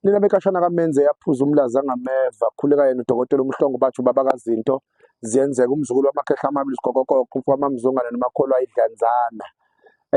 Lena bekashana kaMenze yaphuza umlaza angameva khuleka yena udokotela uMhlongo bathi ubaba kazinto ziyenzeka umzukulu wamakhehla amabili sigokokoko umfamamzungane nomakholwa idlanzana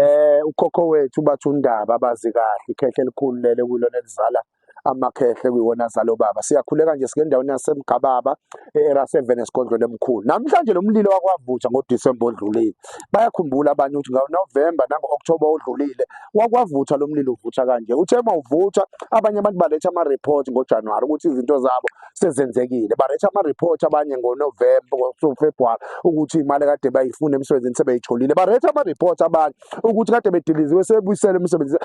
eh ukhokho wethu bathi undaba abazi kahle ikhehle elikhulu lele kulona elizala amakhehle kuyiwona zalo baba siyakhuleka nje sike endaweni yasemgababa e-era 7 esigodlweni emkhulu namhlanje lo mlilo wakwavutha ngodisemba odlulile bayakhumbula abanye ukuthi ngawo novemba nango-okthoba odlulile wakwavutha lo mlilo uvutha kanje uthe uma uvutha abanye abantu baletha ama-report ngojanuwari ukuthi izinto zabo sezenzekile baletha ama-report abanye ngonovemba ngofebruwari ukuthi imali kade bayifuna emsebenzini sebeyitholile baletha ama-report abanye ukuthi kade bediliziwe sebuyisele emsebenzini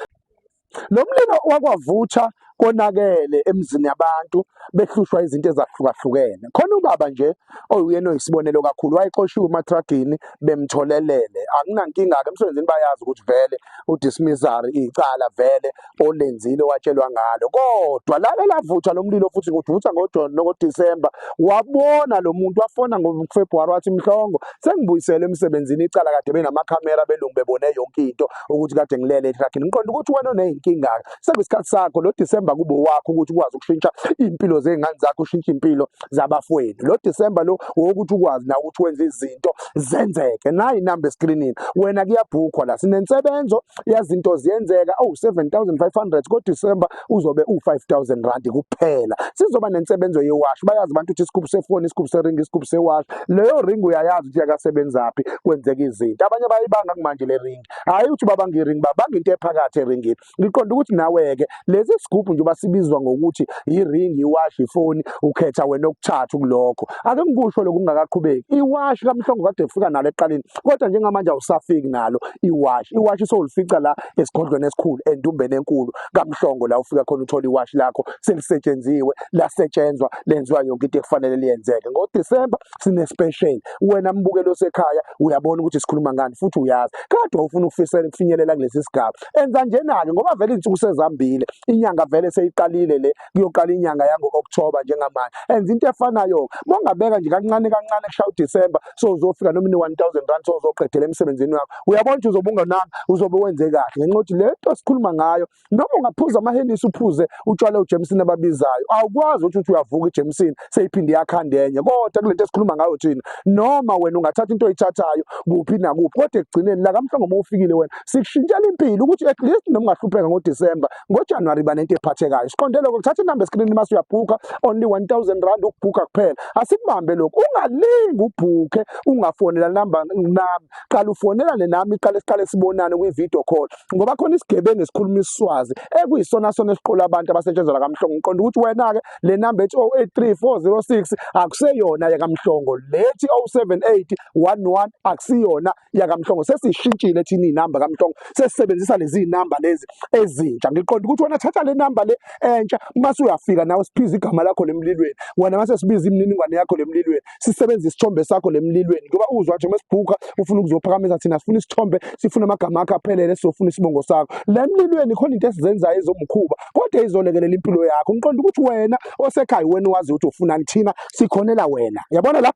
lo mlilo wakwavutha konakele emzini yabantu behlushwa izinto ezahlukahlukene khona ubaba nje oyuyena oyisibonelo kakhulu wayexoshiwe umatragini bemtholelele akunankinga-ke emsebenzini bayazi ukuthi vele udismissary icala vele olenzile watshelwa ngalo kodwa lake lavutha lo mlilo futhi kuvutha ngodisemba wabona lo muntu wafona ngofebruwari wathi mhlongo sengibuyisele emsebenzini icala kade benamakhamera belungu bebone yonke into ukuthi kade ngilele etrakhini ngiqonda ukuthi wena oney'nkinga-ke sekuyisikhathi sakho lo December kube wakho ukuthi ukwazi ukushintsha impilo zengane zakho ushintshe impilo zabafowenu lo December lo wokuthi ukwazi na ukuthi wenze izinto zenzeke nayi number screening wena kuyabhukhwa la sinensebenzo yazinto ziyenzeka oh 7500 ko December uzobe u 5000 rand kuphela sizoba nensebenzo yewash bayazi abantu ukuthi isikhubu sefoni isikhubu seringi isikhubu sewash leyo ring uyayazi ukuthi yakasebenzaphi kwenzeka izinto abanye bayibanga kumanje le ring hayi ukuthi babanga iring babanga into ephakathi eringini ngiqonda ukuthi nawe-ke lezi sigubhu njengoba sibizwa ngokuthi yiringi iwashi ifoni ukhetha wena okuthathu kulokho ake ngikusho lokhu kungakaqhubeki iwashi kamhlongo kade ufika nalo eqaleni kodwa njengamanje awusafiki nalo iwashi iwashi sowulifica la esigodlweni esikhulu endumbeni enkulu kamhlongo la ufika khona uthola iwashi lakho selisetshenziwe lasetshenzwa lenziwa yonke into ekufanele liyenzeke ngodisemba sine special wena mbukeli osekhaya uyabona ukuthi sikhuluma ngani futhi uyazi kade ufuna ukufisela ukufinyelela kulesi sigaba enza njena-ke ngoba vele izinsuku sezambile inyanga vele seyiqalile le kuyoqala inyanga yango-okthoba njengamanje enza into efanayo mongabeka nje kancane kancane kushaya udisemba sozofika noma ine-one thousand rand sozoqedela emsebenzini wakho uyabona ukuthi uzobe ungananga uzobe wenze kahle ngenxa yokuthi le nto sikhuluma ngayo noma ungaphuza amahenisi uphuze utshwala uJameson ababizayo awukwazi ukuthi uthi uyavuka iJameson seyiphinde yakhanda enye kodwa kulento esikhuluma ngayo thina noma wena ungathatha into oyithathayo kuphi nakuphi kodwa ekugcineni la kamhlongo uma ufikile wena sikushintshela impilo ukuthi at least noma ungahlupheka ngoDecember ngoJanuary banento ephathekayo siqonde lokho kuthatha inamba eskrini mase uyabhuka only 1000 rand ukubhuka kuphela asikubambe lokho ungalingi ubhuke ungafonela number nami qala ufonelane nami qala siqale sibonane kwi video call ngoba khona isigebengu esikhuluma isiswazi ekuyisona sona esiqola abantu abasetshenzelwa kamhlongo ngiqonda ukuthi wena-ke le namba ethi 083406 akuseyona yakamhlongo lethi 07811 akusiyona yakamhlongo sesishintshile thina iy'namba kamhlongo sesisebenzisa lezi namba lezi ezintsha ngiqonda ukuthi wena thatha le namba le entsha uma suyafika nawe siphiza igama lakho lemlilweni wena mase sibiza imininingwane yakho lemlilweni sisebenzise isithombe sakho lemlilweni ngoba uzwa nje mesibhuka ufuna ukuzophakamisa thina sifuna isithombe sifuna amagama akho aphelele sizofuna isibongo sakho lemlilweni khona into esizenzayo ezomkhuba kodwa izolekelela impilo yakho ngiqonda ukuthi wena osekhaya wena wazi ukuthi ufunani thina sikhonela wena yabona la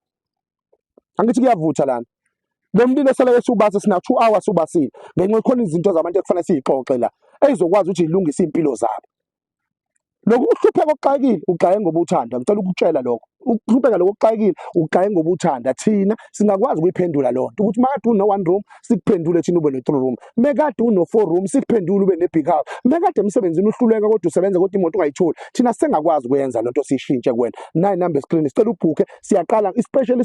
angithi kuyavutha lana lo mlilo seleke siwubase sina 2 hours ubasile ngenxa khona izinto zabantu ekufanele siyixoxe la eyizokwazi ukuthi ilungise impilo zabo lokhu ukuhlupheka okuxakile ugxaye ngoba uthanda ngicela ukutshela lokho ukuhlupheka lokho okuxakile ugxaye ngoba uthanda thina singakwazi ukuyiphendula loo nto ukuthi makade uno one room sikuphendule thina ube no-three room mekade uno-four room sikuphendule ube ne-big house mekade emsebenzini uhluleka kodwa usebenza kodwa imoto ungayitholi thina sengakwazi ukwenza loo nto siyishintshe kuwena nayi number screen sicela ubhukhe siyaqala ispecial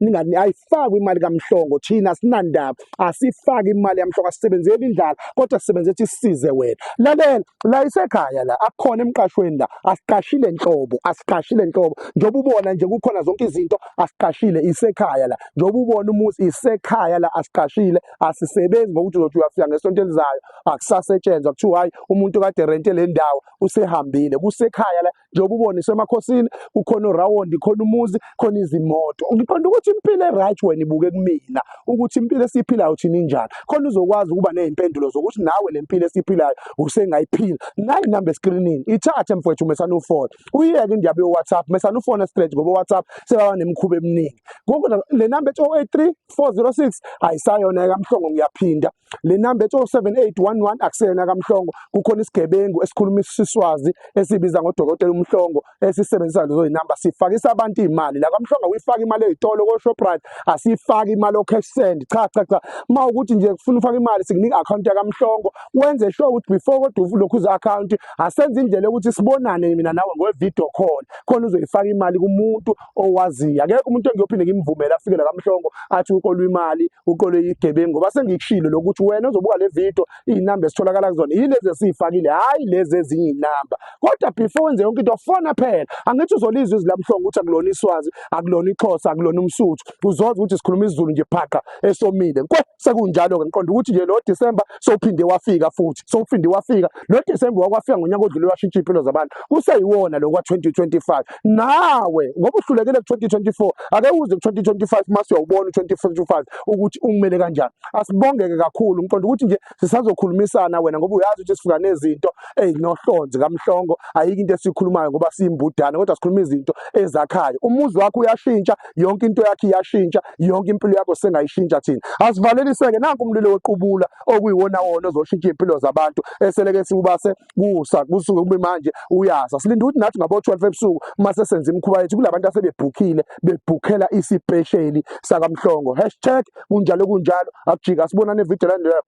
ningani ayifakwe imali kamhlongo thina sinandaba asifaki imali yamhlongo asisebenzeli indlala kodwa sisebenze ukuthi sisize wena lalela la isekhaya la akukhona emqashweni la asiqashile nhlobo asiqashile nhlobo njengoba ubona nje kukhona zonke izinto asiqashile isekhaya la njengoba ubona umuzi isekhaya la asiqashile asisebenzi ngokuthi uzothi uyafika ngesonto elizayo akusasetshenzwa kuthiwa hayi umuntu kade rente le ndawo usehambile kusekhaya la njengoba ubona isemakhosini kukhona urawundi khona umuzi khona izimoto ngiqonda ukuthi impilo eright wena ibuke kumina ukuthi impilo esiyiphilayo thina injani khona uzokwazi ukuba nezimpendulo zokuthi nawe le mpilo esiyiphilayo usengayiphila nayi number eskrinini ithathe mfowethu mesana ufone uyeke indaba yo-whatsapp mesana ufone straight ngoba whatsapp sebaba nemikhuba eminingi ngoku le number ethi 083 406 ayisayona ekamhlongo ngiyaphinda le namba ethi 07811 akuseyona kaMhlongo kukhona isigebengu esikhuluma isiswazi esibiza ngodokotela uMhlongo esisebenzisa lezo zinamba sifakisa abantu imali la kaMhlongo uyifaka imali ezitolo ko Shoprite asifaki imali o cash send cha cha cha uma ukuthi nje kufuna ufaka imali sikunika account ya kaMhlongo wenze sure ukuthi before kodwa uvule ukhuza account asenze indlela ukuthi sibonane mina nawe ngwe video call khona uzoyifaka imali kumuntu owaziyo akekho umuntu engiyophinde ngimvumela afike la kaMhlongo athi ukolwa imali uqole igebengu ngoba sengikushilo lokuthi wena ozobuka le video izinamba esitholakala kuzona yilezi esiyifakile hayi lezi ezinye inamba kodwa before wenze yonke into fona phela angithi uzolizwa izwi lamhlongo ukuthi akulona iswazi akulona ixhosa akulona umsuthu uzoza ukuthi sikhuluma isizulu nje phaqa esomile kwe sekunjalo ke ngiqonda ukuthi nje lo December sowuphinde wafika futhi sowuphinde wafika lo December wakwafika ngonyaka odlule washintsha impilo zabantu kuseyiwona lo kwa 2025 nawe ngoba uhlulekile ku 2024 ake uze ku 2025 mase uyawubona 2025 ukuthi ungimele kanjani asibongeke kakhulu ngiqonda ukuthi nje sisazokhulumisana wena ngoba uyazi ukuthi sifika nezinto ezinohlonze kamhlongo ayike into esikhulumayo ngoba siyimbudane kodwa sikhuluma izinto ezakhayo umuzi wakho uyashintsha yonke into yakhe iyashintsha yonke impilo yakho sengayishintsha thina asivaleliseke nanku umlilo woqubula okuyiwona wona ozoshintsha impilo zabantu eseleke siwubase kusa kusuke kube manje uyasa silinde ukuthi nathi ngabo 12 ebusuku uma sesenza imikhuba yethu kulabantu asebebhukhile bebhukhela isipesheli sakamhlongo hashtag kunjalo kunjalo akujika sibonane video landela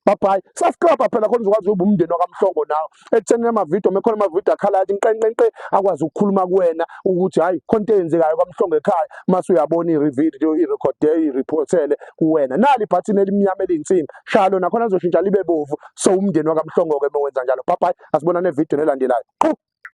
babhayi subscribe phela khona uzokwazi ukuba umndeni wakamhlongo nawe ekuthenini amavidiyo mekhona amavidiyo akhala athi nqenqenqe akwazi ukukhuluma kuwena ukuthi hhayi khona into eyenzekayo kwamhlongo ekhaya mase uyabona i-video i-recorde i-reportele kuwena nali ibhathini elimnyama eliyinsimbi shaya lona khona azoshintsha libe bovu so umndeni wakamhlongo-ke uma wenza njalo babhayi asibonane evidiyweni elandelayo qhu